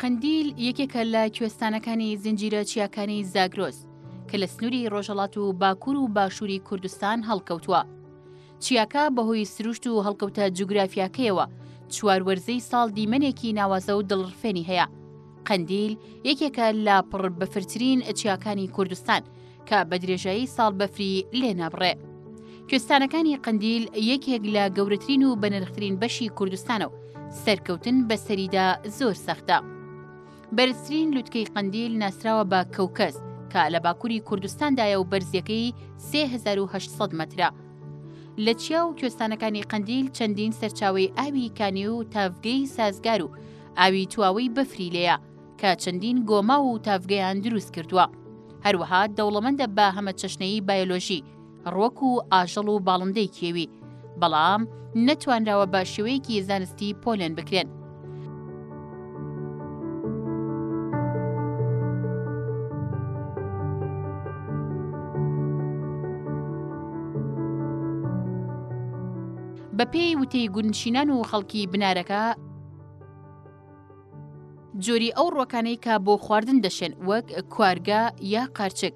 قەندیل یەکێکە لە کوێستانەکانی زنجیرە چیاکانی زاگرۆس کە لە سنووری ڕۆژەڵات و باکوور و باشووری کوردستان هەڵکەوتووە. چیاکە بەهۆی سروشت و هەڵکەوتە جوگرافیاکەیەوە چوار وەرزەی ساڵ دیمەنێکی ناوازە و دڵڕفێنی هەیە قەندیل یەکێکە لە پڕ بەفرترین چیاکانی کوردستان کە بە درێژایی ساڵ بەفری لێ نابڕێ کوێستانەکانی قەندیل یەکێک لە گەورەترین و بەنرخترین بەشی کوردستانە و سەرکەوتن بەسەریدا زۆر سەختە. بەرزترین لوتکەی قەندیل ناسراوە بە کەوکەز کە لە باکووری کوردستاندایە و بەرزیەکەی 3800 مەترە. لە چیا و کوێستانەکانی قەندیل چەندین سەرچاوی ئاوی کانی و تاڤگەی سازگار و ئاوی تواوەی بەفری لێیە کە چەندین گۆماو و تاڤگەیان دروست کردووە. هەروەها دەوڵەمەندە بە هەمە چەشنەیی بایۆلۆژی، ڕوەک و ئاژەڵ و باڵندەی کێوی، بەڵام نەتوانراوە بە شێوەیەکی زانستی پۆلێن بکرێن. بەپێی وتەی گوندنشینان و خەڵکی بنارەکە، جۆری ئەو ڕوەکانەی کە بۆ خواردن دەشێن وەک کوارگە یا قارچک،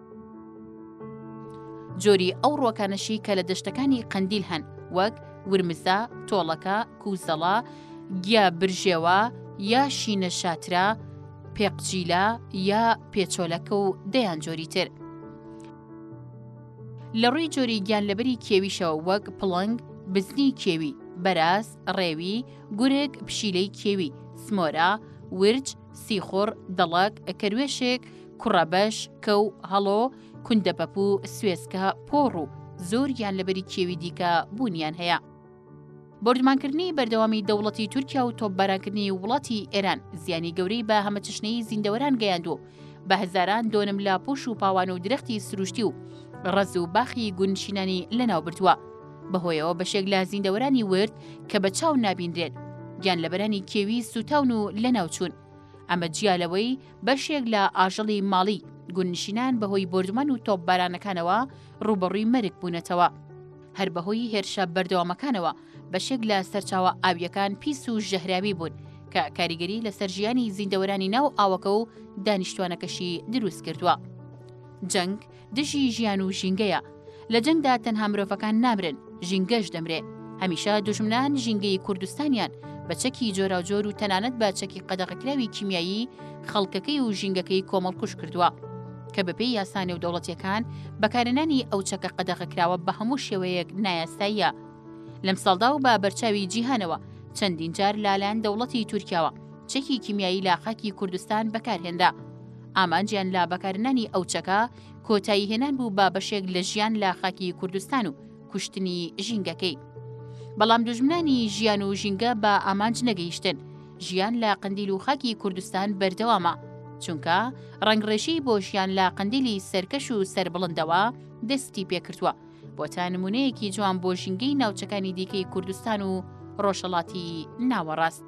جۆری ئەو ڕۆکانەشی کە لە دەشتەکانی قەندیل هەن وەک ورمزە، تۆڵەکە، کوزەڵە، گیا برژێوە، یا شینە شاترا، پێقجیلە یا پێچۆلەکە و دەیان جۆری تر. لە ڕووی جۆری گیان لەبەری کێویشەوە وەک پڵنگ، بزنی کێوی، بەراز، ڕێوی، گورگ، پشیلەی کێوی، سمۆرە، ورج، سیخوڕ، دڵک، کەروێشک، کوڕەبەش، کەو، هەڵۆ، کوندەپەپوو، سوێسکە، پۆڕ و زۆر گیان لەبەری کێوی دیکە بوونیان هەیە. بۆردومانکردنی بەردەوامی دەوڵەتی تورکیا و تۆپبارانکردنی وڵاتی ئێران زیانی گەورەی بە هەمەچەشنەیی زیندەوەران گەیاند و بە هەزاران دۆنم لە پۆش و پاوان و درەختی سروشتی و ڕەز و باخی گوندنشینانی لەناوبردووە. بەهۆیەوە بەشێک لە زیندەوەرانی ورد کە بە چاو نابینرێن گیان لەبەرانی کێوی سوتاون و لەناوچوون ئەمە جیا لەوەی بەشێک لە ئاژەڵی ماڵی گونشینان بەهۆی بردمان و تۆپ بارانەکانەوە ڕوبەڕووی مەرگ بوونەتەوە هەر بەهۆی هێرشە بەردەوامەکانەوە بەشێک لە سەرچاوە ئاویەکان پیس و ژەهراوی بوون کە کاریگەری لەسەر ژیانی زیندەوەرانی ناو ئاوەکە و دانیشتوانەکەشی دروست کردووە جەنگ دژی ژیان و ژینگەیە لە جەنگدا تەنها مرۆڤەکان نامرن ژینگەش دەمرێ هەمیشە دوژمنان ژینگەی کوردستانیان بە چەکی جۆراوجۆر و تەنانەت بە چەکی قەدەغەکراوی کیمیایی خەڵکەکەی و ژینگەکەی کۆمەڵکوش کردووە کە بەپێی یاسا نێودەوڵەتیەکان بەکارێنانی ئەو چەکە قەدەغەکراوە بە هەموو شێوەیەک نایاساییە لەم ساڵدا و بە بەرچاوی جیهانەوە چەندین جار لالان دەوڵەتی تورکیاوە چەکی کیمیایی لاقاکی کوردستان بەکارهێنرا ئامانجیان لە بەکارنانی ئەو چەکە کۆتایی هێنان بوو بە بەشێک لە ژیان لە خاکی کوردستان و کوشتنی ژینگەکەی. بەڵام دوژمنانی ژیان و ژینگە بە ئامانج نەگەیشتن ژیان لە قندیل و خاکی کوردستان بەردەوامە چونکە ڕنگڕێژی بۆ ژیان لە قندیلی سەرکەش و سربڵندەوە دەستی پێکردووە بۆ تا نمونەیەکی جوان بۆ ژینگەی ناوچەکانی دیکەی کوردستان و ڕۆژهڵاتی ناوەڕاست.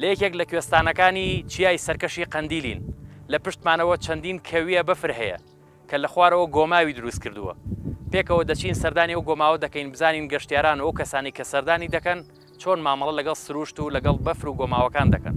لە یەکێک لە کوێستانەکانی چیای سەرکەشی قەندیلین، لە پشتمانەوە چەندین کەویە بەفر هەیە کە لە خوارەوە گۆماوی دروست کردووە. پێکەوە دەچین سەردانی ئەو گۆماوە دەکەین بزانین گەشتیاران و ئەو کەسانەی کە سەردانی دەکەن چۆن مامەڵە لەگەڵ سروشت و لەگەڵ بەفر و گۆماوەکان دەکەن.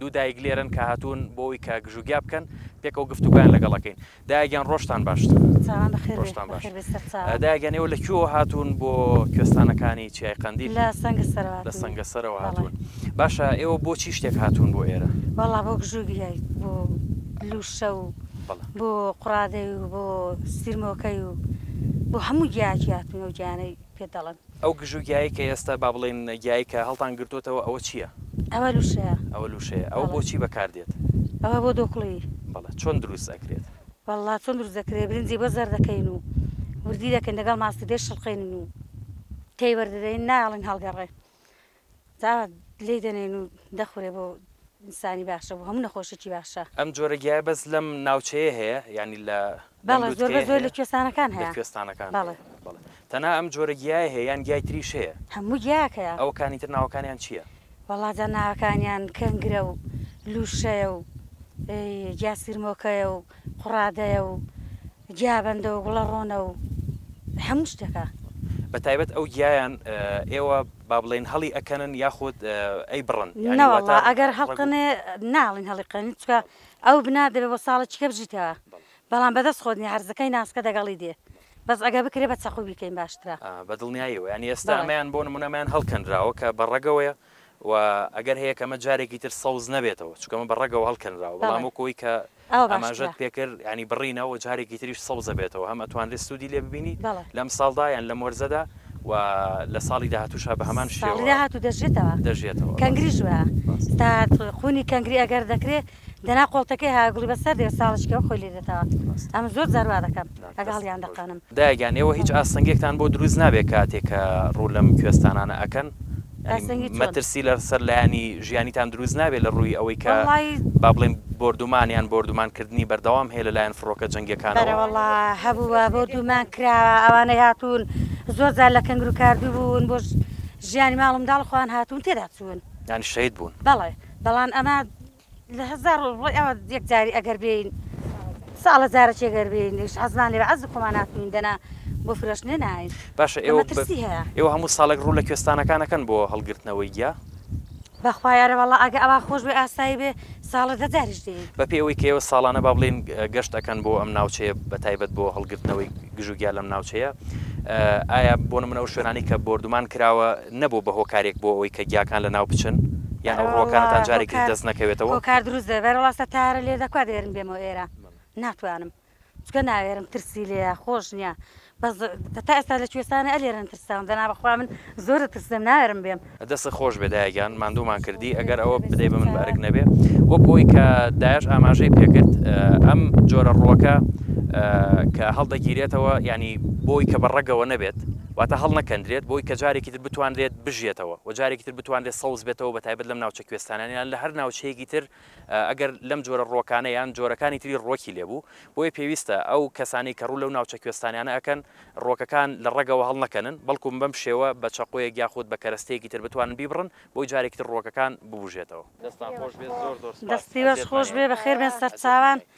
دوو دایک لێرەن کە هاتوون بۆ ئەوەی کە گژوگیا بکەن، پێکەوە گفتوگۆیان لەگەڵ ئەکەین. دایە گیان ڕۆژتان باشتر. چاوان بەخێر بێ، ڕۆژتان باش. بەخێر بێ سەر چاوان. دایە گیان ئێوە لە کوێوە هاتوون بۆ کوێستانەکانی چیای قەندیل؟ لە سەنگەسەرەوە لە هاتووین. سەنگەسەرەوە بەڵێ. هاتوون. باشە ئێوە بۆ چی شتێک هاتوون بۆ ئێرە؟ وەڵا بۆ گژوگیای، بۆ لووشە و بەڵێ. بۆ قوڕادەی و بۆ سیرمۆکەی و بۆ هەموو گیایەکی هاتووین، ئەو گیایانەی. پێت دەڵێم. ئەو گژو گیایەی کە ئێستا با بڵێین گیایەی کە هەڵتان گرتۆتەوە ئەوە چییە؟ ئەوە لوشەیە. ئەوە لوشەیە. ئەوە بۆ چی بەکار دێت؟ ئەوە بۆ دۆکڵی. بەڵێ چۆن دروست ئەکرێت؟ وەڵڵا چۆن دروست دەکرێت برنجی بۆ زەرد دەکەین و وردی دەکەین دەگەڵ ماستی دەیشڵقێنین و تێی وەردەدەین نایەڵین هەڵگەڕێ. تا لێی دەنێن و دەخورێ بۆ ئینسانی باشە بۆ هەموو نەخۆشێکی باشە. ئەم جۆرە گیایە بەس لەم ناوچەیە هەیە یانی لە لەم بەڵێ زۆر بە لوتکەیە زۆر لە هەیە؟ کوێستانەکان لە هەیە کوێستانەکان بەڵێ. هەیە بەڵێ تەنها ئەم جۆرە گیایە هەیە یان گیای تریش هەیە؟ هەموو گیایەک هەیە. ئەوەکانی تر ناوەکانیان چیە؟ وەڵا جا ناوەکانیان کەنگرە و لوشەیە و گیا سرمۆکەیە و قوڕادەیە و گیا بەندە و گوڵە ڕۆنە و هەموو شتێکە. بە تایبەت ئەو گیایان ئێوە با بڵێین هەڵی ئەکەنن یاخود ئەیبڕن؟ نەوەڵا ئەگەر هەڵقەنێ ناڵین هەڵیقەنین چکە ئەو بنا دەبێ بۆ ساڵە چیکە بژیتەوە بەڵام بەدەست خۆت نیە هەرزەکەی ناسکە دەگەڵی دێ بەس ئەگە بکرێ بە چەقوبیکەین باشترە بەدڵنیایەوە یانی ئێستا ئەمیان بۆ نمونەمیان هەڵکەنراوە کە بە ڕەگەوەیە و ئەگەر هەیە کەمە جارێکی تر سەوز نەبێتەوە چونکە ئەمە بە ڕەگەوە هەڵکەنراوە بەڵام بەڵێ وەک ئەوەی کە ئەوە باشترە ئاماژەت پێ کرد یانی بڕینە و جارێکی تریش سەوز دەبێتەوە هەم ئەتوانرێت سوودی لێ ببینی بەڵێ لەمساڵدا یان لەم وەرزەدا و لە ساڵی داهاتووشا بە هەمان ساڵی شێوە داهاتوو دەژێتەوە دەژێتەوە ڕاستە کەنگریش وایە ڕاستە تا قوونی کەنگری ئەگەر دەکرێ دەنا قۆڵتەکەی هاگڵی بەسەر دێ ساڵیشکەوە خۆی لێ دێتەوە ئەمن زۆر جار وا دەکەم ئەگە هەڵیان دەقەنم. دایە گیان ئێوە هیچ ئاستەنگێکتان بۆ دروست نابێ کاتێ کە ڕوو لەم کوێستانانە ئەکەن؟ یانی مەترسی لە سەر لایەنی ژیانیتان دروست نابێ لە ڕووی ئەوەی کە با بڵێن بۆردومان یان بۆردومان کردنی بەردەوام هەیە لە لایەن فڕۆکە جەنگیەکانەوە؟ بەرە وەڵا هەبووە بۆردومان کراوە ئەوانەی هاتوون زۆر جار لە کەنگرو کاردوو بوون بۆ ژیانی ماڵ و منداڵ خۆیان هاتوون تێدا چوون یانی شەید بوون؟ بەڵێ. بەڵام ئەمە لە هەزار ڕۆی ئەوە یەکجاری ئەگەر بێین ساڵە جارەکی ئەگەر بێین لەش حەزمان لێ عەز خۆمان ناتوین دەنا بۆ فرۆشتنێ ناین باشە ئێوە ئێوە هەموو ساڵێک ڕوو لە کوێستانەکانەکەن بۆ هەڵگرتنەوەی گیا بەخوایارە وڵا ئەگە ئەوە خۆش بێ ئاسایی بێ ساڵە دەجاریش دێ بە پێ ئەوەی کەەوە ساڵانە با بڵێن گەشت ئەەکەن بۆ ئەم ناوچەیە بە تایبەت بۆ هەڵگرتنەوەی گژوگیا لەم ناوچەیە ئایا بۆ منەوە شوێنانی کە بردومان کراوە نەبوو بە هۆکارێک بۆ ئەوەی کە گیاکان لە ناو بچن؟ یان ئەو ڕووەکانەتان جارێکی تر دەست نەکەوێتەوە؟ هۆکار دروست دەبێت، بەرێ وەڵا تەیارە لێ دەکوا دەێرم بێمەوە ئێرە ناتوانم چکە ناێرم ترسی لێە خۆش نییە بەس تا ئێستا لە کوێستانە ئەلێرن ترساون دەنا بەخوا من زۆر لە ترسم ناێرم بێم. دەستت خۆش بێ دایە گیان ماندوومان کردی ئەگەر ئەوە بدەی بە من بە ئەرک نەبێ وەک ئەوی کە دایەش ئاماژەی پێکرد ئەم جۆرە ڕووەکە کە هەڵدەگیرێتەوە یانی بۆی کە بە ڕەگەوە نەبێت واتە هەڵنەکەندرێت بۆی کە جارێکی تر بتوانرێت بژیێتەوە و جارێکی تر بتوانرێت سەوز بێتەوە بە تایبەت لەم ناوچە کوێستانان یان لە هەر ناوچەیەکی تر ئەگەر لەم جۆرە ڕووەکانە یان جۆرەکانی تری ڕووەکی لێ بوو بۆیە پێویستە ئەو کەسانەی کە ڕوو لەو ناوچە کوێستانانە ئەکەن ڕووەکەکان لە ڕەگەوە هەڵنەکەنن بەڵکوم بەم شێوە بە چەقۆیەک یاخود بە کەرەستەیەکی تر بتوانن بیبڕن بۆی جارێکی تر ڕووەکەکان ببوژێتەوە. دەستان خۆشبێت زۆر زۆر سوپاس. دەست سپاس خۆش بێ بەخێربێن سەرچاوان.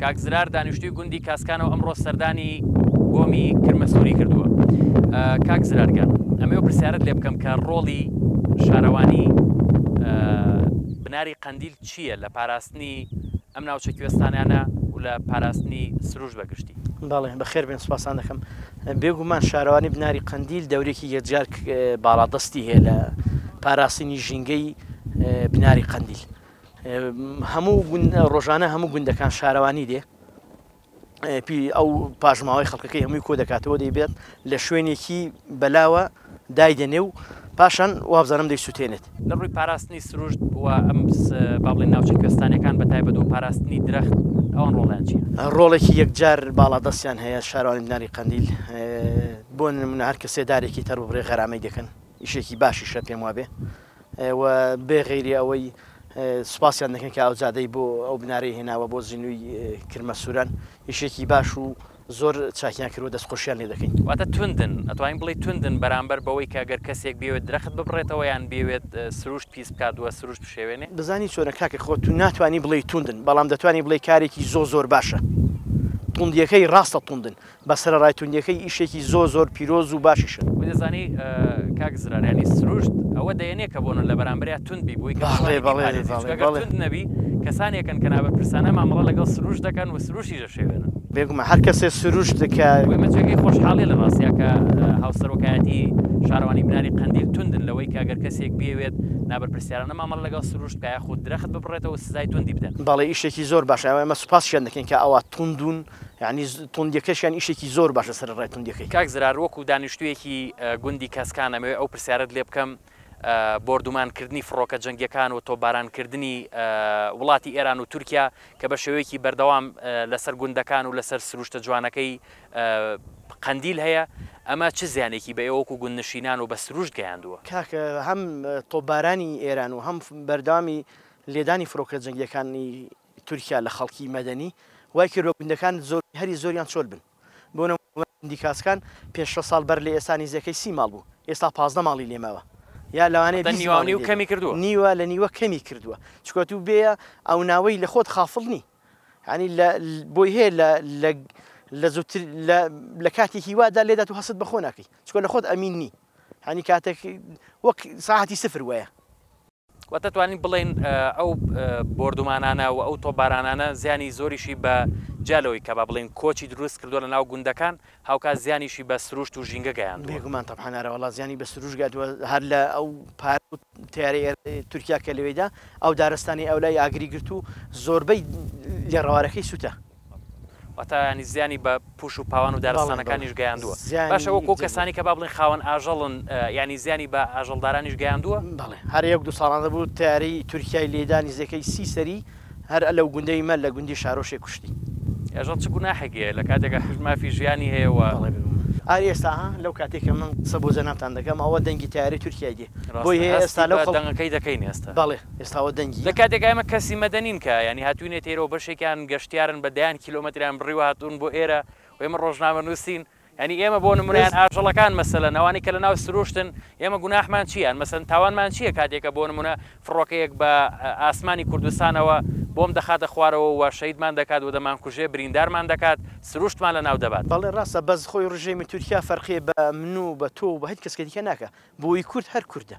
کاک زرار دانیشتوی گوندی کاسکانە و ئەمڕۆ سەردانی گۆمی کرمەسووری کردووە کاک زرارگەن ئەمە و پرسیارت لێ بکەم کە ڕۆڵی شارەوانی بناری قەندیل چییە لە پاراستنی ئەم ناوچە کوێستانیانە و لە پاراستنی سروش بەگشتی بەڵێ بەخێر بێن سوپاسان دەکەم بێگومان شارەوانی بناری قەندیل دەورێکی یەجار باڵادەستی هەیە لە پاراستنی ژینگەی بناری قەندیل هەموو گوند ڕۆژانە هەموو گوندەکان شارەوانی دێ پی ئەو پاشماوەی خەڵکەکەی هەمووی کۆ دەکاتەوە دەیبێت لە شوێنێکی بەلاوە دایدەنێ و پاشان وابزانم دەی سووتێنێت لە ڕووی پاراستنی سروشت و ئەم بابڵی ناوچە کوێستانەکان بە تایبەت و پاراستنی درەخت ئەوان ڕۆڵیان چی ڕۆڵێکی یەکجار باڵادەستیان هەیە شارانی بناری قندیل بۆ نمونە هەر کەسێدارێکی تەربڕێ غەرامەی دەکەن ئیشێکی باشیشە پێم وابێ و بێ غەیری ئەوەی سوپاسیان دەکەین کە ئاوجادەی بۆ ئەو بنارەی هێناوە بۆ زینوی کرمە سوران ئیشێکی باش و زۆر چاکیان کردوە دەست خۆشیان لێ دەکەین. واتە توندن، ئەتوانین بڵێی توندن بەرامبەر بەوەی کە گەر کەسێک بیەوێت درەخت ببڕێتەوە یان بیەوێت سروشت پیس بکات و سروشت بشێوێنێ؟ بزانی چۆنە کاکە خۆ تو ناتوانی بڵێی توندن بەڵام دەتوانی بڵێی کارێکی زۆ زۆر باشە توندیەکەی ڕاستە توندن بە سەرەڕای توندیەکەی ئیشێکی زۆر زۆر پیرۆز و باشیشە. وەی دەزانی کاک زرار یانی سروشت ئەوە دەیەنێ کە بۆنە لە بەرامبەریا توند بی بۆی توند نەبی کەسانێکن کە نابەرپرسانە مامەڵە لەگەڵ سروش دەکەن و سروشی دەشێوێنن بێگومە هەر کەسێ سروش دکە مەچەکەی خۆشحاڵی لە ڕاستیا کە هاوسەرۆکایەتی شارەوانی بناری قندیل توندن لەوەی کاگەر کەسێک بێوێت نابەرپرسیارانە مامەڵە لەگەڵ سروشت کە یاخود درەخت ببڕێتەوە سزای توندی بدەن بەڵێ ئیشێکی زۆر باشە ئەمە سوپاس شێن دەکەین کە ئەوە توندون یانی توندیەکەشیان ئیشێکی زۆر باشە سەرەڕای توندیەکەی. کاک زرار وەکو دانیشتویەکی گوندی کەسکان ئەمەوێ ئەو پرسیارەت لێ بکەم بۆردومان کردنی فڕۆکە جەنگیەکان و تۆپباران کردنی وڵاتی ئێران و تورکیا کە بە شێوەیەکی بەردەوام لەسەر گوندەکان و لەسەر سروشتە جوانەکەی قەندیل هەیە ئەمە چ زیانێکی بە ئێوەکو گوندنشینان و بە سروشت گەیاندووە؟ کاکە هەم تۆپبارانی ئێران و هەم بەردەوامی لێدانی فرۆکە جەنگیەکانی تورکیا لە خەڵکی مەدەنی وای کردوە گوندەکان زۆر هەری زۆریان چۆل بن بۆ نموونە گوندی کاسکان پێش شەست ساڵ بەر لە ئێستا نیزەکەی سی ماڵ بوو ئێستا پازدە ماڵی لێ ماوە یا لەوانەیە بیست نیوە نیو کەمی کردوە نیوە لە نیوە کەمی کردوە چکە تو بێیە ئەو ناوەی لە خۆت خافڵ نی یانی لە بۆی هەیە لە لە لە زووتر لە لە کاتێکی وادا لێدا تو هەست بەخۆ ناکەی چکە لە خۆت ئەمین نی یانی کاتێک وەک ساعتی سفر وەیە وە دەتوانین بڵێین ئەو بۆردومانانە و ئەو تۆپبارانانە زیانی زۆریشی بە جیا لەوەی کە با بڵێین کۆچی دروست کردووە لە ناو گوندەکان هاوکات زیانیشی بە سروشت و ژینگە گەیاندووە. بێگومان تەبعەن ئەرە وەڵا زیانی بە سروشت گەیاندووە هەر لە ئەو پار و تەیارەی تورکیا کە لەوێیدا ئەو دارستانەی ئەو لای ئاگری گرت و زۆربەی لێڕەوارەکەی سووتا. واتە یانی زیانی بە پوش و پاوان و دارستانەکانیش گەیاندووە باشە وەک و کەسانی کە بابلین خاوەن ئاژەڵن یانی زیانی بە ئاژەڵدارانیش گەیاندووە؟ بەڵێ هەر یەک دوو ساڵانە بوو تەیارەی تورکیای لێدانی زێکەی سی سەری هەر ئەلەو گوندەی مە لە گوندی شارۆشێ کوشتی. ئێژەڵ چ گوناحێکی هەیە لە کاتێکا حیز مافی ژیانی هەیە و. بەڵێ بێ گومان. ئاری ئێستا ها لەو کاتەی کە من قسە بۆ جەنابتان دەکەم ئەوە دەنگی تەیارەی تورکیای دێ بۆی هەیە ئێستا لەو خەڵ. هەست بە دەنگەکەی دەکەین ئێستا. بەڵێ. ئێستا ئەوە دەنگی. لە کاتێکا ئێمە کەسی مەدەنین کە یانی هاتووینەتە ئێرە و بەشێکیان گەشتیارن بە دەیان کیلۆمەتریان بڕیوە هاتوون بۆ ئێرە و ئێمە ڕۆژنامەنووسین یانی ئێمە بۆ نموونە یان ئاژەڵەکان مەسەلەن ئەوانەی کە لەناو سروشتن ئێمە گوناحمان چیە یان مەسەلەن تاوانمان چیە کاتێکە بۆ نموونە فڕۆکەیەک بە ئاسمانی کوردستانەوە بۆم دەخاتە خوارەوە و شەهیدمان دەکات و دەمانکوژێ بریندارمان دەکات سروشتمان لەناو دەبات. بەڵێ ڕاستە بەس خۆی ڕژێمی تورکیا فەرقی بە من و بە تۆ و بە هیچ کەسکی دیکە ناکا بۆی کورد هەر کوردە.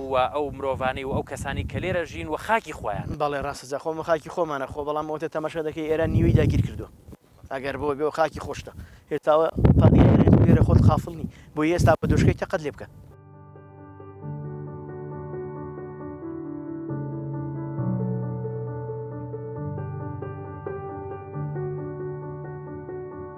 و ئەو مرۆڤانەی و ئەو کەسانەی کە لێرە ژین و خاکی خۆیانە. بەڵێ ڕاستە جا خۆمە خاکی خۆمانە خۆ بەڵام ئەوەتە تەماشا دەکەی ئێران نیوەی داگیر کردوە ئەگەر بۆ بێ و خاکی خۆشتە هێتاوە لێرە خۆت قافڵ نی بۆی ئێستا بە دۆشکەی تەقەت لێ بکە.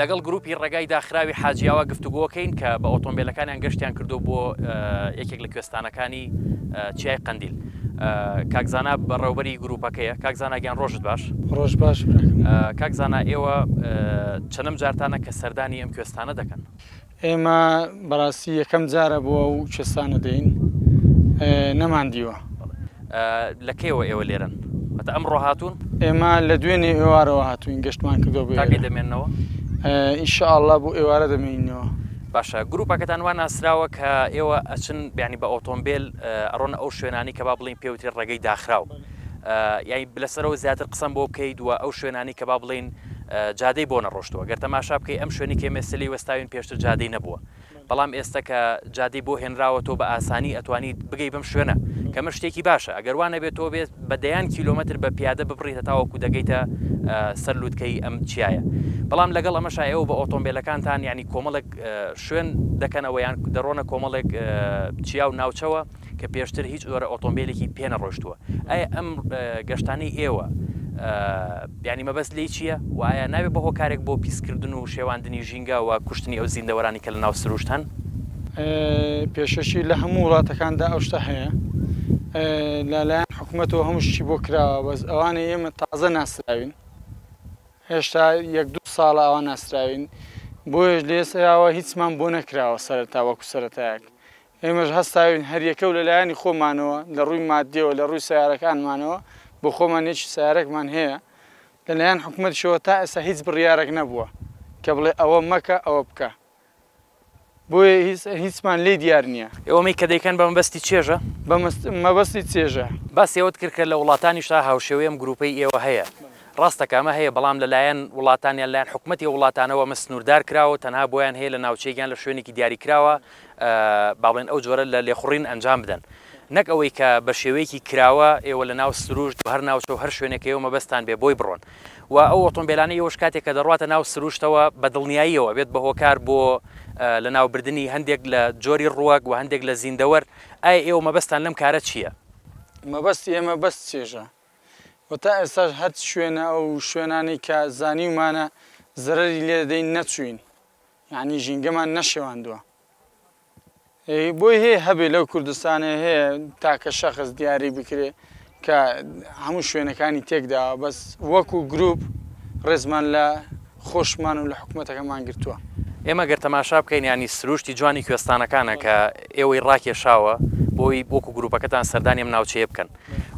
لەگەڵ گروپی ڕێگای داخراوی حاجیاوا گفتوگۆکەین کە بە ئۆتۆمبیلەکانیان گەشتیان کردو بۆ یەکێک لە کوێستانەکانی چیای قندیل کاکزانا بەڕێوبەری گروپەکەیە کاکزاناگەیان ڕۆژت باش ڕۆژ باش کاکزانا ئێوە چەنم جارتانە کە سەردانی ئەم کوێستانە دەکەن ئێمە بەڕاستی یەکەم جارە بۆ ئەو کوێستانە دێین نەمان دیوە. لە کەیەوە ئێوە لێرەن؟ واتە ئەمڕۆ هاتوون؟ ئێمە لە دوێنێ ئێوارەوە هاتووین گەشتمان کردووە بۆ ئێرە. تا کەی دەمێننەوە؟ ان شاء اللە بۆ ئێوارە دەمێینەوە. باشە گروپەکەتان وا ناسراوە کە ئێوە ئەچن یانی بە ئۆتۆمبێل ئەڕۆنە ئەو شوێنانەی کە با بڵێین پێ وترێ ڕێگەی داخراو یانی لەسەرەوە زیاتر قسەم بۆ بکەیت و ئەو شوێنانەی کە با بڵێین جادەی بۆ نەڕۆشتووە گەر تەماشا بکەی ئەم شوێنەی کە ئێمە ئێستە لێی وەستاوین پێشتر جادەی نەبووە بەڵام ئێستە کە جادەی بۆ هێنراوە تۆ بە ئاسانی ئەتوانیت بگەی بەم شوێنە کە مە شتێکی باشە ئەگەر وا نەبێت تۆ بێت بە دەیان کیلۆمەتر بە پیادە ببڕیت هەتاوەکو دەگەیتە سەر لووتکەی ئەم چیایە بەڵام لەگەڵ ئەمەشا ئێوە بە ئۆتۆمبیلەکانتان یعنی کۆمەڵێک شوێن دەکەنەوە یان دەڕۆنە کۆمەڵێک چیا و ناوچەوە کە پێشتر هیچ جۆرە ئۆتۆمبێلێکی پێ نەڕۆشتووە ئایا ئەم گەشتانەی ئێوە یعنی مەبەست لی چییە و ئایا ناوێ بە هۆکارێک بۆ پیسکردن و شێواندنی ژینگە و کوشتنی ئەو زیندەوەرانی کە لە ناو سروشت هەن پێشەشی لە هەموو وڵاتەکاندا ئەو شتە هەیە لەلایەن حکوومەتەوە هەموو شتی بۆ کراوە بەس ئەوانە ئێمە تازە ناسراوین هێشتا یەک دو ساڵە ئەوان ناسراوین بۆیش لێسراوە هیچمان بۆ نەکراوە سەرتا وەکو سەتایەک ئێمەش هەستاوین هەریەکەو لە لایەنی خۆمانەوە لە ڕووی ماددیەوە لە ڕووی سەیارەکانمانەوە بۆ خۆمان یەکی سەیارەکمان هەیە لە لایەن حکومەتیشەوە تا ئێستا هیچ بڕیارەک نەبووە کە بڵێ ئەوە مەکە ئەوە بکە بۆیە هیچمان لێی دیار نیە. ئەوەی کە دەیکەن بە مەبەستی چێژە؟ بە مەبەستی چێژە. باسی ئەوەت کرد کە لە وڵاتانیشدا هاوشێوەی ئەم گروپەی ئێوە هەیە. ڕاستە کە ئەمە هەیە بەڵام لە لایەن وڵاتان یان لایەن حکومەتی ئەو وڵاتانەوە ئەمە سنوردار کراوەو تەنها بۆیان هەیە لە ناوچەیەک یان لە شوێنێکی دیاری کراوە با بڵێین ئەو جۆرە لە لێخوڕین ئەنجام بدەن. نەک ئەوەی کە بە شێوەیەکی کراوە ئێوە لە ناو سرووشت و هەر ناوچە و هەر شوێنێک کە ئێوە مەبەستتان بێ بۆی بڕۆن و ئەو ئۆتۆمبێلانەی ئێوەش کاتێک کە دەڕواتە ناو سرووشتەوە بە دڵنیاییەوە ئەبێت بە هۆکار بۆ لە ناو بردنی هەندێک لە جۆری ڕووەک و هەندێک لە زیندەوەر، ئایا ئێوە مەبەستتان لەم کارە چییە؟ مەبەستی ئێمە بەس چێژە و تا ئێستاش هەر شوێنە ئەو شوێنانەی کە زانیومانە زەرەری لێ دەدەین نەچووین. یانی ژینگەمان نەشێواندوە بۆی هەیە هەبێ لەو کوردستانێ هەیە تاکە شەخص دیاری بکرێ کە هەموو شوێنەکانی تێکدا بەس وەکو گروپ ڕێزمان لە خۆشمان و لە حکوومەتەکەمان گرتووە ئێمە گەر تەماشا بکەین ینی سروشتی جوانی کوێستانەکانە کە ئێوەی ڕاکێشاوە بۆی بۆکو گروپەکەتان سەردانی ئەم ناوچەیە بکەن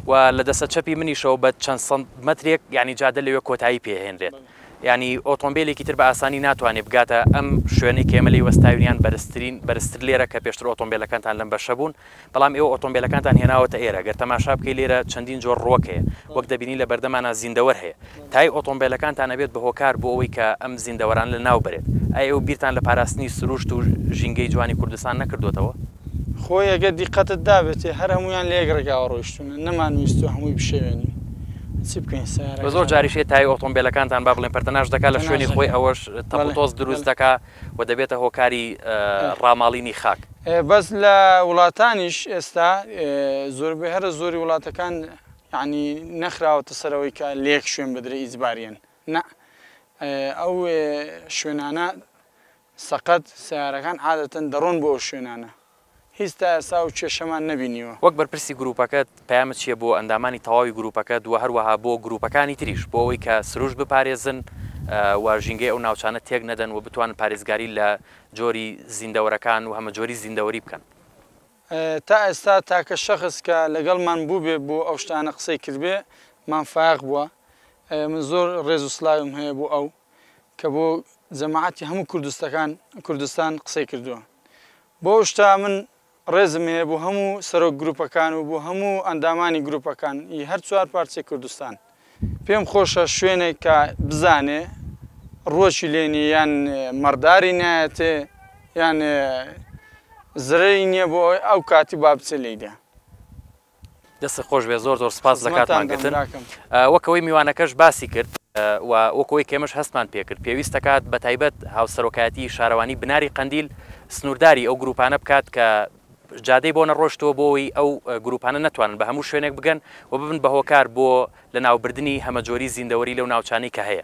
و لە دەسە چەپی منیشەوە بە چەند سند مەترێک ینی جادە لەوێ کۆتایی پێهێنرێت یانی ئۆتۆمبێلێکی تر بە ئاسانی ناتوانێت بگاتە ئەم شوێنەی کە ئێمە لێی وەستاوین یان بەرزترین بەرزتر لێرە کە پێشتر ئۆتۆمبێلەکانتان لەم بەشە بوون بەڵام ئێوە ئۆتۆمبێلەکانتان هێناوەتە ئێرە گەر تەماشا بکەی لێرە چەندین جۆر ڕوەک هەیە وەک دەبینی لە بەردەمانا زیندەوەر هەیە تای ئۆتۆمبێلەکانتان ئەبێت بە هۆکار بۆ ئەوەی کە ئەم زیندەوەرانە لە ناو بەرێت ئایا ئێوە بیرتان لە پاراستنی سروشت و ژینگەی جوانی کوردستان نەکردۆتەوە؟ خۆی ئەگەر دیقەتت دابێتێ هەر هەموویان لە یەک ڕێگاوە ڕۆیشتوونە، نەمانویستووە هەمووی بشێوێنین. چی بکەین سەیارەکە خراپە. زۆر جاریش هەیە تایەی ئۆتۆمبێلەکانتان با بڵێین پەرتەناش دەکات لە شوێنی خۆی ئەوەش تەپ و تۆز دروست دەکات و دەبێتە هۆکاری ڕاماڵینی خاک. بەس لە وڵاتانیش ئێستا زۆربەی هەرە زۆری وڵاتەکان یانی نەخراوەتە سەر ئەوەی کە لە یەک شوێن بدرێ ئیجباریەن نا ئەو شوێنانە سەقەت، سەیارەکان عادەتەن دەڕۆن بۆ ئەو شوێنانە. هیچ تا ئێستا ئەو کێشەمان نەبینیوە. وەک بەرپرسی گرووپەکەت، پەیامت چییە بۆ ئەندامانی تەواوی گرووپەکەت و هەروەها بۆ گرووپەکانی تریش، بۆ ئەوەی کە سروشت بپارێزن و ژینگەی ئەو ناوچانە تێک نەدەن و بتوانن پارێزگاری لە جۆری زیندەوەرەکان و هەمەجۆریی زیندەوەری بکەن؟ تا ئێستا تاکە شەخس کە لەگەڵمان بووبێ بۆ ئەو شتانە قسەی کردبێ، مام فایەق بووە. من زۆر ڕێز و سلاویم هەیە بۆ ئەو. کە بۆ جەماعەتی هەموو کوردستەکان کوردستان قسەی کردووە بۆ ئەو شتە من ڕێزم هەیە بۆ هەموو سەرۆک گروپەکان و بۆ هەموو ئەندامانی گروپەکان ی هەر چوار پارچەی کوردستان پێم خۆشە شوێنێک کە بزانێ ڕووەکی لێ نیە یان مەڕداری نایەتێ یان زرەی نیە بۆ ئەوەی ئەو کاتی با بچێ لێیدا. دەستت خۆش بێت زۆر زۆر سپاس لە کاتمان گرتن وەک ئەوەی میوانەکەش باسی کرد و وەک ئەوەی کێمەش هەستمان پێکرد پێویست دەکات بە تایبەت هاوسەرۆکایەتی شارەوانی بناری قەندیل سنوورداری ئەو گروپانە بکات کە جادەی بۆ نەڕۆشتەوە بۆی ئەو گروپانە نتوانن بە هەموو شوێنێک بگەن و ببن بە هۆکار بۆ لە ناوبردنی هەمەجۆری زیندەوەری لەو ناوچانی کە هەیە.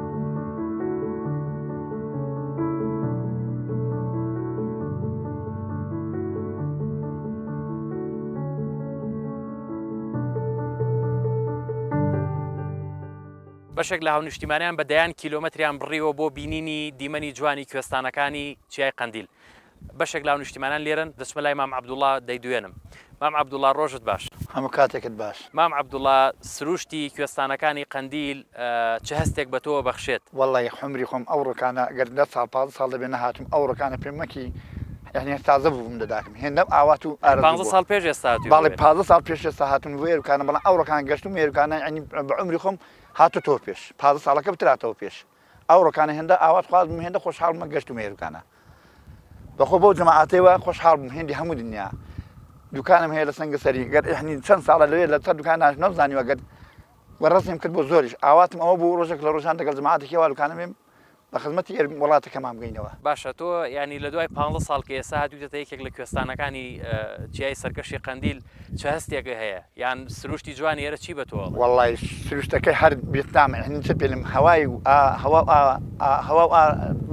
بەشێک لە هاونیشتیمانیان بە دەیان کیلۆمەتریان بڕیوە بۆ بینینی دیمەنی جوانی کوێستانەکانی چیای قەندیل بەشێک لاو نیشتیمانان لێرەن. دەچمە لای مام عەبدوڵا دەیدوێنم. مام عەبدوڵا ڕۆژت باش. هەموو کاتێکت باش. مام عەبدوڵا سروشتی کوێستانەکانی قەندیل چ هەستێک بە تۆوە بەخشێت؟ وەڵڵا ی حومری خۆم ئەو ڕوکانە گەر دە ساڵ پازدە ساڵ دەبێ نەهاتووم ئەو ڕوکانە پێم مەکی یانی هەر تازە بووبووم لە داکم هێندەم ئاوات و ئارەزوو بووە یانی پازدە ساڵ پێش ئێستا هاتووی بۆ ئێرە؟ باڵی پازدە ساڵ پێش ئێستا هاتووم بۆ ئێروکانە بەڵام ئەو ڕوکانە گەشتووم ئێروکانە یانی بە عومری خۆم هاتۆتەوە پێش پازدە ساڵەکە بتراتەوە پێش. ئەو ڕۆکانە هێندە ئاوات خواز بووم هێندە خۆشحاڵ بووم گەشت و مێروکانە بەخۆ بەو جەماعاتەوە خۆشحاڵ بووم هێندی هەموو دنیا دوکانم هەیە لە سنگەسەری گەر ئیحنی چەند ساڵە لەوێ لە سەر دوکان ناش نەمزانیوە گەر وەڕەسیم کرد بۆ زۆریش ئاواتم ئەوە بوو ڕۆژێک لە ڕۆژان دەگەڵ جەماعاتێکی وا دوکانە بێم بە خزمەتی ئێر وڵاتەکەمان بگەینەوە باشە تۆ یانی لە دوای پانزە ساڵ کە ئێستا هاتوویتەتە یەکێک لە کوێستانەکانی ئه، چیای سەرکەشی قەندیل، چ هەستێکە هەیە یان سروشتی جوانی ئێرە چی بە تۆ ئەڵێ؟ وەڵڵای سروشتەکەی هەر بێتامە یانی چ پێلێم هەوای و ئا هەوا و ئا ئا هەوا و ئا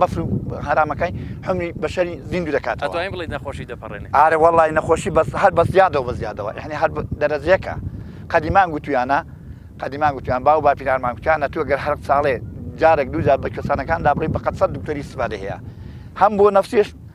بەفر و هەرامەکای حومری بەشەری زیندوو دەکاتەوە. ئەتوانی بڵێی نەخۆشی دەپەڕێنێ. ئارە وەڵڵای نەخۆشی بەس هەر بە زیادەوە بە زیادەوە یانی هەر دەرەجەیەکە قەدیمان گوتوویانە قەدیمان گوتوویان باو باپیرانمان گوتوویان ئەتوو گەر هەر ساڵێ جارێک دوو جار بە کوێستانەکاندا بڕۆی بە قەد سەد دکتۆری ئیستیفادەی هەیە هەم بۆ نەفسیش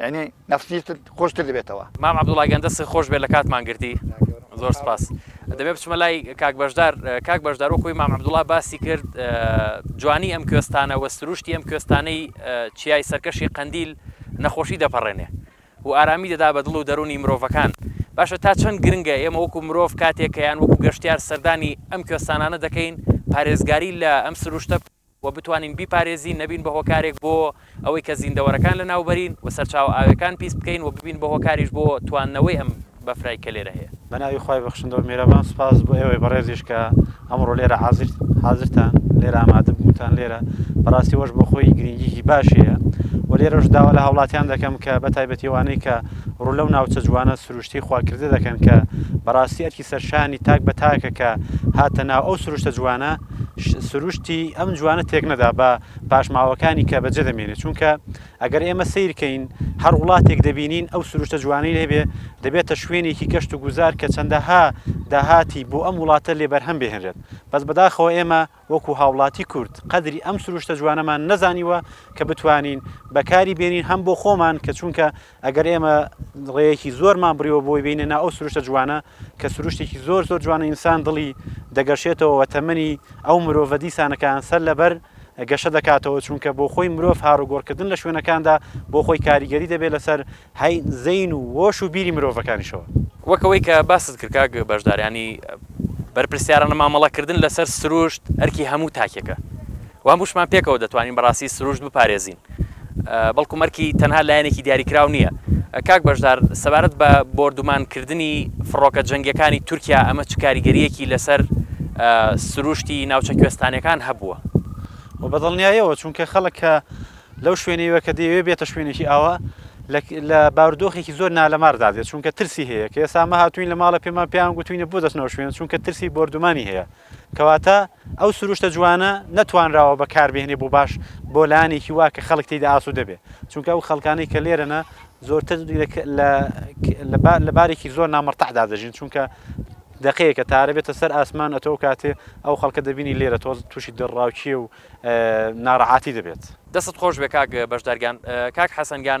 یانی نەفسیشتت خۆشتر دەبێتەوە. مام عبدوڵاگیان دەستت خۆش بێت لە کاتمان گرتی زۆر سپاس دەبێ بچمە لای کاک بەشدار کاک بەشدار وەکوی مام عبدوڵا باسی کرد جوانی ئەم کوێستانە وە سروشتی ئەم کوێستانەی چیای سەرکەشی قەندیل نەخۆشی دەپەڕێنێ و ئارامی دەدا بە دڵ و دەرونی مرۆڤەکان باشە تا چەند گرنگە ئێمە وەکو مرۆڤ کاتێکیان وەکو گەشتیار سەردانی ئەم کوێستانانە دەکەین پارێزگاری لە ئەم سروشتە و بتوانین بیپارێزین، نەبین بە هۆکارێک بۆ ئەوەی کە زیندەوەرەکان لەناوبەرین و سەرچاوە ئاویەکان پیس بکەین و ببین بە هۆکاریش بۆ تواندنەوەی ئەم بەفرەی کە لێرە هەیە. بە ناوی خوای بەخشندە و میرەبان سوپاس بۆ ئێوەی بەڕێزیش کە ئەمڕۆ لێرە حازر حازرتان لێرە ئامادە بوونتان لێرە بەڕاستی ئەوەش بۆ خۆی گرینگیی باشی هەیە و لێرەش داوا لە هاوڵاتیان دەکەم کە بە تایبەتی ئەوانەی کە ڕوو لەو ناوچە جوانە سروشتی خواکردە دەکەن کە بەڕاستی ئەرکی سەرشانی تاک بە تاکە کە هاتە ناو ئەو سروشتە جوانە سروشتی ئەم جوانە تێک نەدا بە پاشماوەکانی کە بەجێ دەمێنێت چونکە ئەگەر ئێمە سیرکەین هەر وڵاتێک دەبینین ئەو سروشتە جوانەی هەبێ دەبێتە شوێنێکی گەشت و گوزار کە چەندەها داهاتی بۆ ئەم وڵاتە لێ بەرهەم بهێنرێت بەس بەداخەوە ئێمە وەکو هاوڵاتی کورد قەدری ئەم سروشتە جوانەمان نەزانیوە کە بتوانین بەکاری بێنین هەم بۆ خۆمان کە چونکە ئەگەر ئێمە ڕێیەکی زۆرمان بڕیوە بۆی بینە نا ئەو سروشتە جوانە کە سروشتێکی زۆر زۆر جوانە ئینسان دڵی دەگەشێتەوە وە تەمەنی ئەو مرۆڤە دیسانەکان سەر لەبەر گەشە دەکاتەوە چونکە بۆ خۆی مرۆڤ هاروگۆڕکردن لە شوێنەکاندا بۆ خۆی کاریگەری دەبێت لەسەر هەی زەین و هۆش و بیری مرۆڤەکانیشەوە. وەک ئەوەی کە باست کرد کاک بەشدار یانی بەرپرسیارانە مامەڵەکردن لەسەر سروشت ئەرکی هەموو تاکێکە وام وشمان پێکەوە دەتوانین بەڕاستی سروشت بپارێزین بەڵکو مەرکی تەنها لایەنێکی دیاریکراو نییە. کاک بەشدار سەبارەت بە بۆردومان کردنی فڕۆکە جەنگیەکانی تورکیا ئەمە چ کاریگەریەکی لەسەر سروشتی ناوچە کوێستانیەکان هەبووە؟ خۆ بەدڵنیایەوە چونکە خەڵک کە لەو شوێنەیوە کە دەیەوێت بێتە شوێنێکی ئاوا لە باردۆخێکی زۆر نالەمار دادێت چونکە ترسی هەیە کە ئێستا ئەمە هاتوین لە ماڵە پێمان پێیان گوتوینە بۆ دەچنەوە شوێن چونکە ترسی بۆردومانی هەیە کەواتە ئەو سروشتە جوانە نەتوانراوە بەکاربهێنێ بۆ باش بۆ لایەنێکی وا کە خەڵک تێیدا ئاسوودە بێ چونکە ئەو خەڵکانەی کە لێرەنە زۆرتر لە بارێکی زۆر نامەرتەعدا دەژین چونکە دەقەیەکە تارە بێتە سەر ئاسمان ئەتۆ کاتێ ئەو خەڵکە دەبینی لێرە تۆز تووشی دڕاوکیە و ناڕەعاتی دەبێت دەست خۆش بێ کاک بەشدارگان کاک حەسەنگان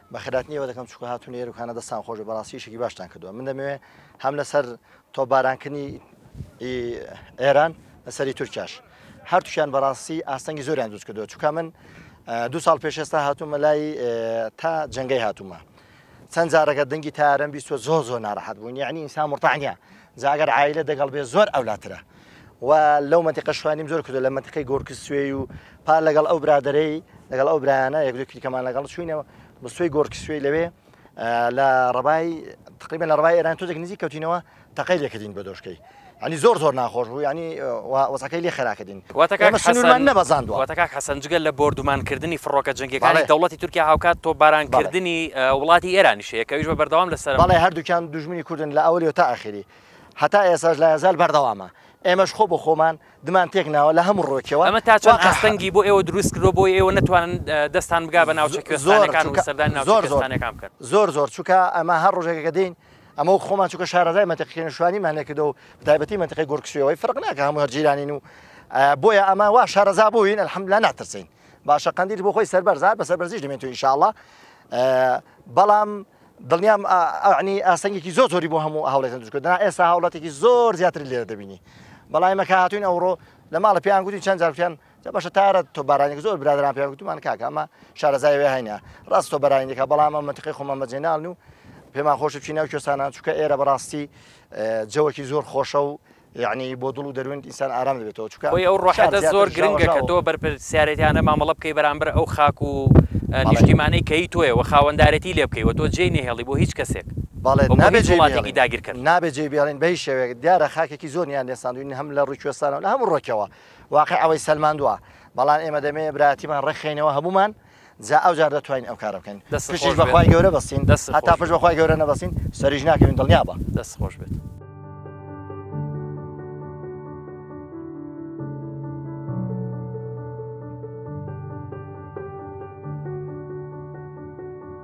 بە خێراتنی ئێوە دەکەم چونکە هاتوونە ئێرە و کانە دەستان خۆش بێت بەڕاستی ئیشێکی باشتان کردووە من دەمەوێ هەم لەسەر تۆپبارانکردنی ئێران لەسەری تورکیاش هەرتوشیان بەڕاستی ئاستەنگی زۆریان دروست کردووە چونکە من دو ساڵ پێش ئێستا هاتوومە لای تا جنگەی هاتوومە چەند جارەکە دەنگی تارم بیستوە زۆر زۆر ناراحەت بوون یعنی ئینسان مرتاح نییە جاگەر عیلە دەگەڵ بێ زۆر ئەولاترە و لەو مەنتیقە شوانیم زۆر کردو لە مەنتیقی گۆرکس سوێی و پار لەگەڵ ئەو برادرەی لەگەڵ ئەو برایانە یەک دوو کلیکەمان لەگەڵ چوینەوە بە سوێی گۆرکس سوێی لەوێ لە ڕبای تقریبا لە ڕبای ئێران تۆزێک نزیک کەوتینەوە تەقەی لێکردین بە دۆشکەی ئەنی زۆر زۆر ناخۆش بوو ینی وەزەکەی لێ خراکردین واتەکەمان نەبەزاندوە واتەکە حەسەن جگە لە بردومانکردنی فڕۆکە جنگەکانی دەوڵەتی تورکیا هاوکات تۆ بارانکردنی وڵاتی ئێرانیشەیە کەویش بە بەردەوام لەسەر بەڵێ هەردووکیان دژمنی کوردن لە ئەولی و تا ئاخری هەتا ئێستاش لا یەزال بەردەوامە، ئێمەش خۆ بۆ خۆمان دمان تێک ناوە لە هەموو ڕووێکەوە. ئەمە تا چەند ئاستەنگی بۆ ئێوە دروست کردووە بۆ ئێوە نەتوانن دەستتان بگا بە ناوچە کوێستانەکان و سەردانی ناوچە کوێستانەکان بکەن؟ زۆر زۆر، چونکە ئەمە هەر ڕۆژێکە کە دێین، ئەمە وەک خۆمان چونکە شارەزای مەنتیقی کێنەشوانیمان لێ کردووە و بەتایبەتی مەنتیقی گۆرک سوێوەی فەرق ناکا هەموو هەر جیرانین و بۆیە ئەمە وا شارەزا بووین الحەمدللە ناترسین. باشە قەندیل بۆ خۆی سەربەرزە هەر بە سەربەرزیش دەمێنێتەوە ان شاء اللە، بەڵام دڵنیام ئەعنی ئاستەنگێکی زۆر زۆری بۆ هەموو هاوڵێتن دروست دەنا ئێستا هاوڵاتێکی زۆر زیاتر لێرە دەبینی بەڵای مەکە هاتوین ئەوڕۆ لە ماڵە پێیان گوتین چەند جارکیان جا بەشە تارە تۆ بارانێک زۆر برادران پێیان گوتمان کاکە ئەمە شارەزایەوە هەینە ڕاستۆ بەرانێکە بەڵام ئەمە منتیقی خۆمە مەجێناڵن و پێمان خۆش بچینە و کوێستانان چووکە ئێرە بەڕاستی جەوەکی زۆر خۆشە و یەعنی بۆ دڵ و دەروونت ئینسان ئارام دەبێتەوە چونکە خۆی ئەو شار ڕۆحەتە زیاتر زۆر گرنگە کە ژاوەژاوە. تۆ بەرپرسیارێتیانە مامەڵە بکەی بەرامبەر ئەو خاک و ئە، بەڵێ. نیشتیمانەی کە هی تۆیە وە خاوەندارێتی لێ بکەی وە تۆ جێی نەهێڵی بۆ هیچ کەسێک بەڵێ و بۆ نابێ هیچ جێی وڵاتێکی بهێڵین داگیرکەر. نابێ جێی بهێڵین بە هیچ شێوەیەک دیارە خاکێکی زۆر نیان لێ ساندوین هەم لە ڕووی کوێستانەوە لە هەموو ڕووێکەوە واقیع ئەوەی سەلماندوە بەڵام ئێمە دەمەوێ برایەتیمان ڕێکخەینەوە هەموومان جا ئەوجار دەتوانین ئەو کارە بکەین دەست پشتیش خۆش بێت. بەخوای گەورە بەستین دەست هەتا خۆش پشت بێت. بەخوای گەورە نەبەستین سەریش ناکەوین دڵنیا بە دەست خۆش بێت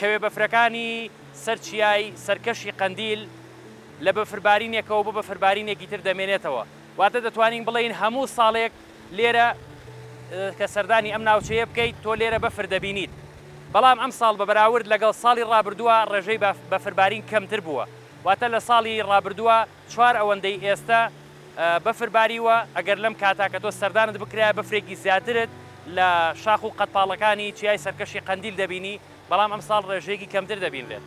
کەوێ بەفرەکانی سەر چیای سەرکەشی قەندیل لە بەفربارینێکەوە بۆ بەفربارینێکی تر دەمێنێتەوە، واتە دەتوانین بڵێین هەموو ساڵێک لێرە کە سەردانی ئەم ناوچەیە بکەیت تۆ لێرە بەفر دەبینیت، بەڵام ئەمساڵ بە بەراورد لەگەڵ ساڵی ڕابردووە ڕێژەی بەفربارین کەمتر بووە، واتە لە ساڵی ڕابردووە، چوار ئەوەندەی ئێستە بەفر باریوە، ئەگەر لەم کاتە کە تۆ سەردانت بکرایە بەفرێکی زیاترت لە شاخ و قەدپاڵەکانی چیای سەرکەشی قەندیل دەبینی، بەڵام ئەمساڵ ڕێژەیەکی کەمتر دەبینرێت.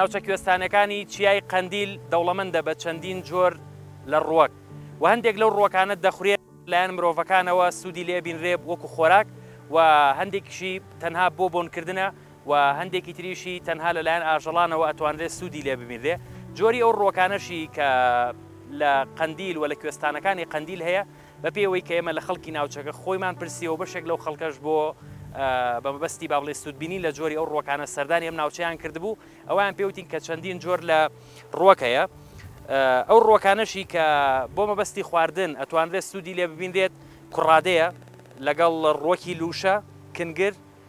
ناوچە کوێستانەکانی چیای قەندیل دەوڵەمەندە بە چەندین جۆر لە ڕوەک و هەندێک لەو ڕوەکانە دەخورێت لایەن مرۆڤەکانەوە سوودی لێبینرێب وەکو خۆراک و هەندێکیشی تەنها بۆ بۆنکردنە و هەندێکی تریشی تەنها لە لایەن ئاژەڵانەوە ئەتوانرێ سوودی لێ ببینرێ، جۆری ئەو ڕووەکانەشی کە لە قەندیل و لە کوێستانەکانی قەندیل هەیە بە پێی ئەوەی کە ئێمە لە خەڵکی ناوچەکە خۆیمان پرسیوە و بەشێک لەو خەڵکەش بۆ بە مەبەستی با بڵێ سوودبینین لە جۆری ئەو ڕووەکانە سەردانی ئەم ناوچەیان کردبوو ئەویان پێوتین کە چەندین جۆر لە ڕووەک هەیە ئەو ڕووەکانەشی کە بۆ مەبەستی خواردن ئەتوانرێت سوودی لێ ببینرێت کوڕادەیە لەگەڵ ڕووەکی لووشە کنگر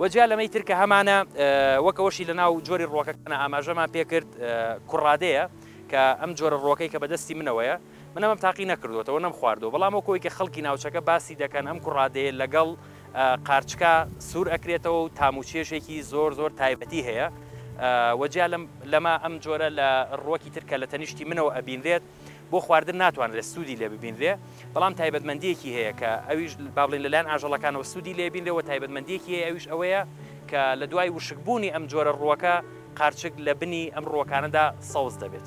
وە جیا لەمەی تر کە هەمانە وەک ئەوەشی لە ناو جۆری ڕۆکەکەە ئاماژەمان پێکرد کوڕادەیە کە ئەم جۆرە ڕۆکەی کە بەدەستی منەوەیە منەمەم تاقی نەکردوەوە نەم خواردەوە بەڵام وەکەوەی کە خەڵکی ناوچەکە باسی دەکەن ئەم کوڕادەیە لەگەڵ قارچکا سوور ئەکرێتەوە و تاموچێشێکی زۆر زۆر تایبەتی هەیە وەجیا لەمە ئەم جۆرە لە ڕوەکی ترکە لە تەنیشتی منەوە ئەبینرێت بۆ خواردن ناتوانرێت سوودی لێ ببینرێ بەڵام تایبەتمەندیەکی هەیە کە ئەویش با بڵین لەلایەن ئاژەڵەکانەوە سوودی لێبینرەوە تایبەتمەندیەکی هەیە ئەویش ئەوەیە کە لە دوای وشکبوونی ئەم جۆرە ڕووەکە قارچک لە بنی ئەم ڕووەکانەدا سەوز دەبێت.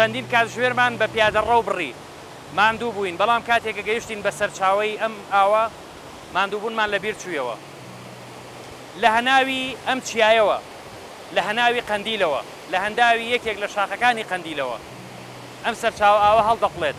چەندین کاتژمێرمان بە پیادەڕەو بڕی، ماندوو بووین، بەڵام کاتێک کە گەیشتین بە سەرچاوەی ئەم ئاوە، ماندووبوونمان لەبیر چوویەوە. لە هەناوی ئەم چیایەوە، لە هەناوی قەندیلەوە، لە هەنداوی یەکێک لە شاخەکانی قەندیلەوە، ئەم سەرچاوە ئاوە هەڵدەقوڵێت.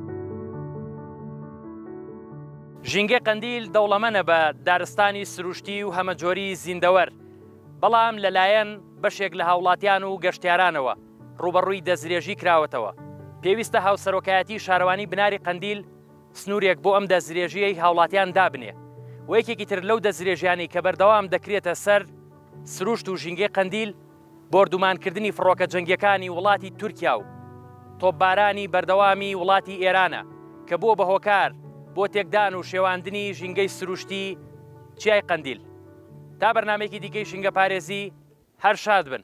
ژینگەی قەندیل دەوڵەمەنە بە دارستانی سروشتی و هەمەجۆری زیندەوەر، بەڵام لەلایەن بەشێک لە هاوڵاتیان و گەشتیارانەوە ڕووبەڕووی دەستدرێژی کراوەتەوە، پێویستە هاوسەرۆکایەتی شارەوانی بناری قەندیل سنوورێک بۆ ئەم دەستدرێژییەی هاوڵاتیان دابنێ و یەکێکی تر لەو دەستدرێژیانەی کە بەردەوام دەکرێتە سەر سروشت و ژینگەی قەندیل بۆردومانکردنی فڕۆکە جەنگییەکانی وڵاتی تورکیا و تۆپبارانی بەردەوامی وڵاتی ئێرانە کە بووە بە هۆکار بۆ تێکدان و شێواندنی ژینگەی سروشتی چیای قەندیل. تا بەرنامەیەکی دیکەی ژینگەپارێزی، هەر شاد بن.